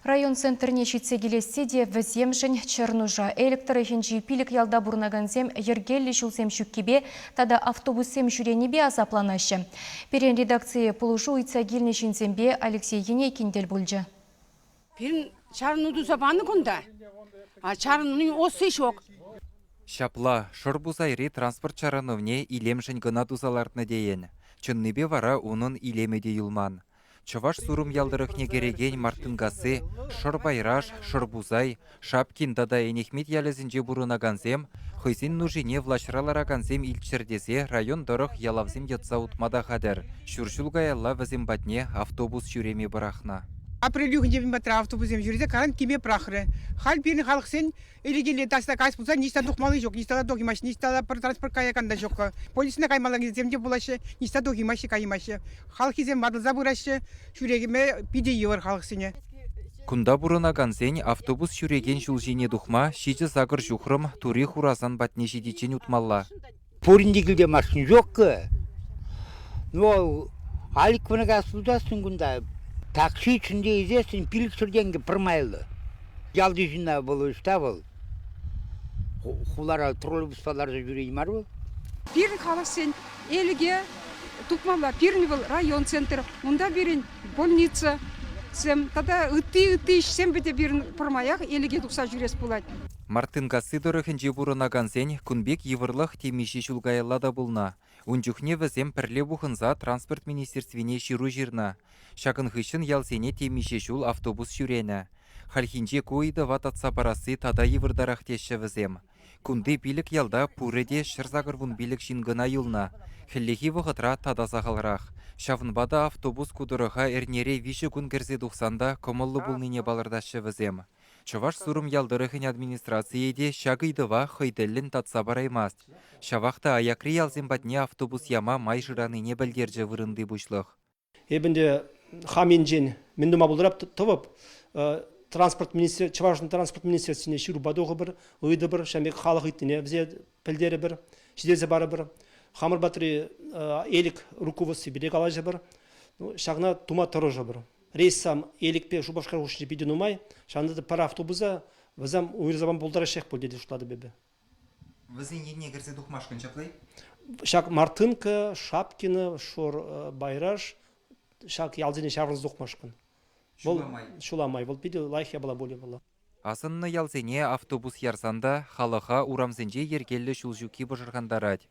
Район центрне ҫитсе килесси те вӗсемшӗн чӗр нуша. Элӗк тӑрӑхӗнчи пилӗк ялта пурӑнакансем йӗркеллӗ ҫулсем ҫуккипе тата автобуссем ҫӳренипе асапланаҫҫӗ. Пирӗн редакцие пулӑшу ыйтса килнӗ ҫынсемпе Алексей Енейкин тӗл пулчӗ. Пирӗн чарӑну туса панӑ кунта. Чарӑнуnin осси ҫук. Ҫапла, Шӑрпусайри транспорт чарӑнӑвне илемшӗн кӑна туса лартнӑ тейӗн. Чӑннипе вара унӑн илемӗ те юлман. Чӑваш Сурӑм ял тӑрӑхне кӗрекен Мартынкасси, Шӑрпайраш, Шӑрпусай, Шапкин тата Энехмет ялӗсенче пурӑнакансем хӑйсен нушине влаҫра ларакансем илччӗр тесе район тӑрӑх ялавсем йӑтса утма та хатӗр. Ҫур ҫул каялла вӗсем патне автобус ҫӳреме пӑрахнӑ. Апрель уйӑхӗнче мӗн патра автобуссем ҫӳресе карантиме пӑрахрӗ. Халь пирӗн халӑхсен Ирекеле таҫта каҫ пулсан ниҫта тухмалли ҫук. Ниҫта та тухимаҫҫӗ, ниҫта та пӗр транспорт каякан та ҫук. Полисна каймалла килсем те пулаҫҫӗ, ниҫта тухимаҫҫӗ, каймаҫҫӗ. Халӑхӗсем ватӑлса пыраҫҫӗ, ҫӳрекеме питӗ йывӑр халӑхсене. Кунта пурӑнакансен автобус ҫӳрекен ҫул ҫине тухма ҫичӗ сакӑр ҫухрӑм тури Хурасан патне ҫитиччен утмалла. Пуринте килте машина ҫук-ка. Ну, алик кӑна сутасшӑн кунта. Такси чунне илсессӗн пилӗксӗр тенкӗ пӗрмайлӑ. Ялти ҫынна вӑл ӗҫ та вӑл. Хулара троллейбуспа ларса ҫӳрет мар вӑл. Пирӗн халӑхсен Элӗке тупмалла. Пирӗн вӑл район центр. Унта пирӗн больницӑсем тата ытти-ытти ӗҫсем те пирӗн пӗрмаях Элӗке тухса ҫӳрес пулать. Мартынкасси тӑрӑхӗнче пурӑнакансен кун пек йывӑрлӑх темиҫе ҫул каялла та пулнӑ. Ун чухне вӗсем пӗрле пухӑнса транспорт министерствине ҫыру ҫырнӑ. Ҫакӑн хыҫҫӑн ялсене темиҫе ҫул автобус ҫӳренӗ. Хальхинче ку ыйтӑва татса парасси тата йывӑртарах теҫҫӗ вӗсем. Кунти пилӗк ялта пурӗ те ҫӗр-сакӑр вун пилӗк ҫын кӑна юлнӑ. Хӗллехи вӑхӑтра тата сахалрах. Ҫавӑнпа та автобус ку тӑрӑха эрнере виҫӗ кун кӗрсе тухсан та кӑмӑллӑ пулнине палӑртаҫҫӗ вӗсем. Чӑваш Сурӑм ял тӑрӑхӗн администрацийӗ те ҫак ыйтӑва хӑй тӗллӗн татса параймасть. Ҫавах та аякри ялсем патне автобус яма май шыранине пӗлтерчӗ вырӑнти пуҫлӑх. Эпӗ ӗнтӗ хам енчен мӗн тума пултарап тӑвӑп. Транспорт министер Чӑвашӑн транспорт министерствине ҫырупа тухӑпӑр, ыйтӑпӑр, ҫавӑн пек халӑх ыйтнине вӗсене пӗлтерӗпӗр, ҫитерсе парӑпӑр. Хамӑр патри Элӗк руководстви пирки калаҫӑпӑр. Ҫакна тума тӑрӑшӑпӑр. Рейссам Элӗкпе Шупашкар хушшинче питӗ нумай. Ҫавӑнта та пӗр автобуса вӗсем уйрӑмсаман пултараҫҫех пуль тесе шутлатӑп эпӗ. Вӗсен енне кӗрсе тухмашкӑн ҫапла-и? Ҫак Мартынка, Шапкино, Шор э, Байраш ҫак ялсене ҫаврӑнса тухмашкӑн. Ҫула май. Ҫула май. Вӑл питӗ лайӑх япала пулӗ вӑл. Асӑннӑ ялсене автобус ярсан та халӑха урамсенче йӗркеллӗ ҫул ҫукки пӑшӑрхантарать.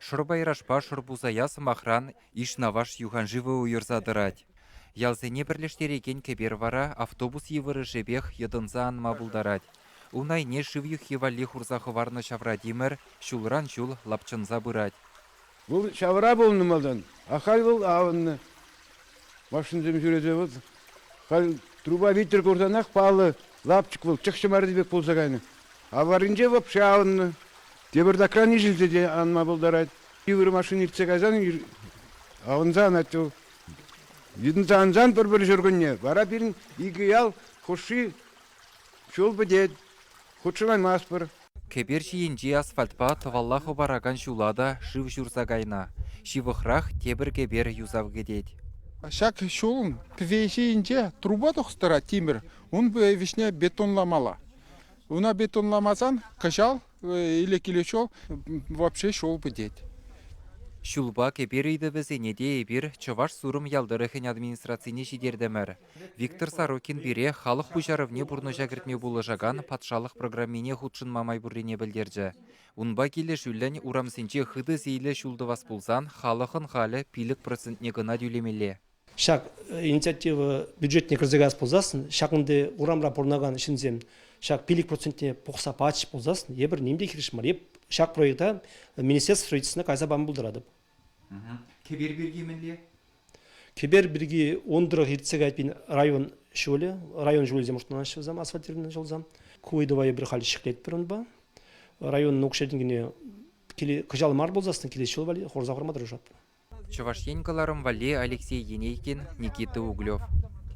Шӑрпайрашпа Шӑрпусая, сӑмахран, Ишнаваш юханшывӗ уйӑрса тӑрать. Ялсене пӗрлештерекен кӗпер вара автобус йывӑрӑшӗпех йӑтӑнса анма пултарать. Ун айне шыв юххи валли хурса хӑварнӑ ҫавра тимӗр ҫулран ҫул лапчӑнса пырать. Вӑл ҫавра пулнӑ малтан, ахаль вӑл авӑннӑ. Машинӑсем ҫӳресе вӑл халь трупа витӗр курсанах паллӑ лапчӑк вӑл чӑхҫӑ марри пек пулса кайнӑ. Ав варринче вӑпши авӑннӑ. Тепӗртакран ишӗлсе те анма пултарать. Йывӑр машина иртсе кайсан авӑнса анать вӑл. Витӗнсе ансан пӗр-пӗр ҫуркунне вара пирӗн икӗ ял хушши Ҫул пӗтет, хутшӑнаймастпӑр. Кӗпер ҫийӗнчи асфальтпа тӑвалла хӑпаракан ҫула та шыв ҫурса кайнӑ. Ҫывӑхрах тепӗр кӗпер юсав кӗтет. Ҫак ҫулӑн кӗпе ҫийӗнче трупа тухса тӑрать тимӗр, ун вӗҫне бетонламалла. Ӑна бетонламасан кӑҫал Илекиле ҫул вообще ҫул пӗтет. Ҫулпа кӗпер ыйтӑвӗсене те эпир Чӑваш Сурӑм ял тӑрӑхӗн администрацине ҫитертӗмӗр. Виктор Сорокин пире халӑх пуҫарӑвне пурнӑҫа кӗртме пулӑшакан патшалӑх программине хутшӑнма май пуррине пӗлтерчӗ. Унпа килӗшӳллӗн урамсенче хытӑ сийлӗ ҫул тӑвас пулсан халӑхӑн халӗ пилӗк процентне кӑна тӳлемелле. Ҫак инициатива бюджетне кӗрсе каяс пулсассӑн ҫакӑнти урамра пурӑнакан ҫынсем ҫак пилӗк процентне пухса пачӗҫ пулсассӑн эпир ним те хирӗҫ мар. Эп ҫак проекта министерство строительствӑна кайса пама пултаратӑп. Кӗпер пирки мӗнле? Кӗпер пирки ун тӑрӑх иртсе кайпин район ҫулӗ, район ҫулӗсем шутланаҫҫӗ вӗсем асфальтированный ҫулсем. Ку ыйтӑва эпир халь ҫӗклетпӗр унпа. Районӑн укҫа-тенкине кӑҫал мар пулсассӑн килес ҫул валли хурса хурма тӑрӑшатпӑр. Чӑваш Ен кӑларӑм валли Алексей Енейкин, Никита Углев.